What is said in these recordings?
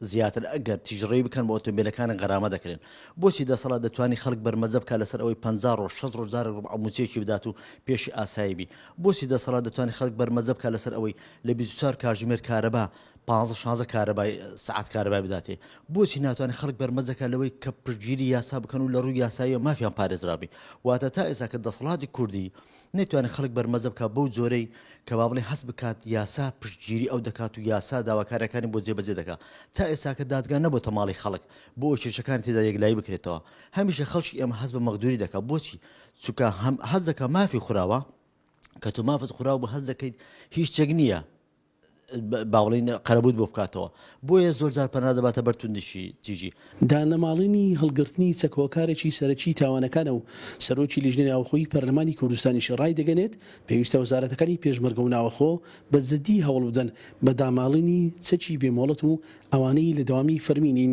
زیاتر ئەگەر تیژڕەوی بکەن بە ئۆتۆمبیلەکانە غەرامە دەکرێن بۆچی دەسەڵات دەتوانی خەڵک بەرمەجە بکات لەسەر ئەوەی پەنجا ڕۆژ شەست ڕۆژ جارێک ڕوبعە موچەیەکی بدات و پێشی ئاسایی بی بۆچی دەسەڵات دەتوانی خەڵک بەرمەجە بکات لەسەر ئەوەی لە بیست و چوار کاژمێر کارەبا پانزە شانزە کارەبای سەعات کارەبای بداتێ بۆچی ناتوانێت خەڵک بەرمەجە کات لەوەی کە پشتگیری یاسا بکەن و لە ڕووی یاساییەوە مافیان پارێزرابی واتە تا ئێستا کە دەسەڵاتی کوردی نەیتوانی خەڵک بەرمەزە بکات بەو جۆرەی کە با بڵێ هەست بکات یاسا پشتگیری ئەو دەکات و یاسا داواکاریەکانی بۆ جێبەجێ دەکا تا ئێساکە دادگا نەبۆتە ماڵی خەڵک بۆ ئەوەی کێشەکانی تێدا یەکلایی بکرێتەوە هەمیشە خەڵکی ئێمە هەست بە مەغدوری دەکا بۆچی چونکە هەم هەست دەکا مافی خوراوە کە تۆ مافت خوراو بە هەست دەکەیت هیچ شتێک نییە باڵین قەرەبووت بۆ بکاتەوە بۆیە زۆرجار پەنا دەباتە بەر توندشی تیژی. دانەماڵینی هەڵگرتنی چەک هۆکارێکی سەرەکی تاوانەکانە و سەرۆکی لیژنەی ناوخۆی پەرلەمانی کوردستانیش ڕایدەگەنێت، پێویستە وەزارەتەکانی پێشمەرگە و ناوەخۆ بە جددی هەوڵبدەن بە داماڵینی چەکی بێ مۆڵەت و ئەوانەی لە دەوامی فەرمی نین،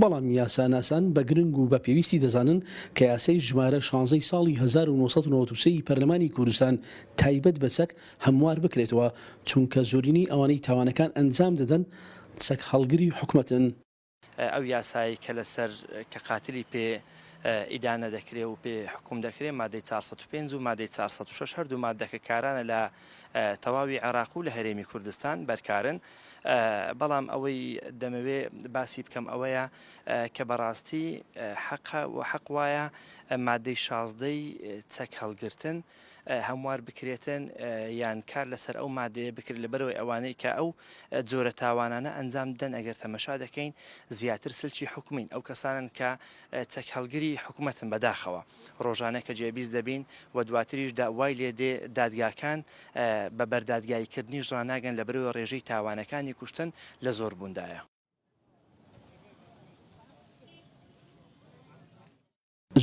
بەڵام یاساناسان بە گرنگ و بە پێویستی دەزانن کە یاسای ژمارە شانزەی ساڵی هەزار و نۆ سەد و نەوەد و سێ ی پەرلەمانی کوردستان تایبەت بە چەک هەموار بکرێتەوە، چونکە زۆرینەی ئەوانەی تاوانەکان ئەنجام دەدەن چەک هەڵگری حکومەتن. ئەو یاسایەی کە لەسەر کە قاتلی پێ ئیدانە دەکرێ و پێ حکوم دەکرێ مادەی چوار سەد و پێنج و مادەی چوار سەد و شەش هەردوو ماددەکە کارانە لە تەواوی عێراق و لە هەرێمی کوردستان بەرکارن، بەڵام ئەوەی دەمەوێ باسی بکەم ئەوەیە کە بەڕاستی حەقە و حەق وایە مادەی شازدەی چەک هەڵگرتن هەموار بکرێتن یان کار لەسەر ئەو مادەیە بکرێت لە بەرەوەی ئەوانەی کە ئەو جۆرە تاوانانە ئەنجام دەن ئەگەر تەمەشا دەکەین زیاتر سلکی حکومین ئەو کەسانن کە چەک هەڵگری حکومەتن بەداخەوە ڕۆژانە کە جێبیست دەبین و دواتریش دا وای لێ دێ دادگاکان بە بەردادگایی کردنیش ڕاناگەن لەبەرئەوەی ڕێژەی تاوانەکانی کوشتن لە زۆر بووندایە.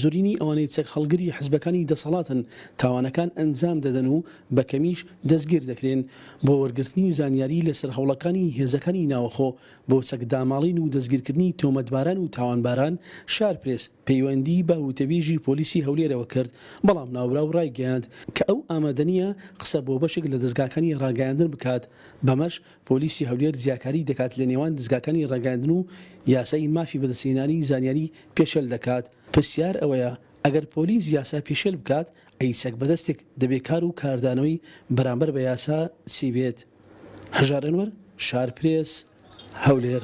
زۆرینەی ئەوانەی چەک هەڵگری حزبەکانی دەسەڵاتن تاوانەکان ئەنجام دەدەن و بە کەمیش دەستگیر دەکرێن. بۆ وەرگرتنی زانیاری لەسەر هەوڵەکانی هێزەکانی ناوەخۆ بۆ چەکداماڵین و دەستگیرکردنی تۆمەتباران و تاوانباران، شارپرێس پەیوەندی بە وتەبێژی پۆلیسی هەولێرەوە کرد، بەڵام ناوبراو ڕایگەیاند کە ئەو ئامادەنییە قسە بۆ بەشێک لە دەزگاکانی ڕاگەیاندن بکات، بەمەش پۆلیسی هەولێر جیاکاری دەکات لە نێوان دەزگاکانی ڕاگەیاندن و یاسای مافی بەدەستهێنانی زانیاری پێشێل دەکات. پرسیار ئەوەیە ئەگەر پۆلیس یاسا پێشێل بکات، ئەی چەک بەدەستێک دەبێ کار و کاردانەوەی بەرامبەر بە یاسا چی بێت؟ هەژار ئەنوەر، شارپرێس، هەولێر.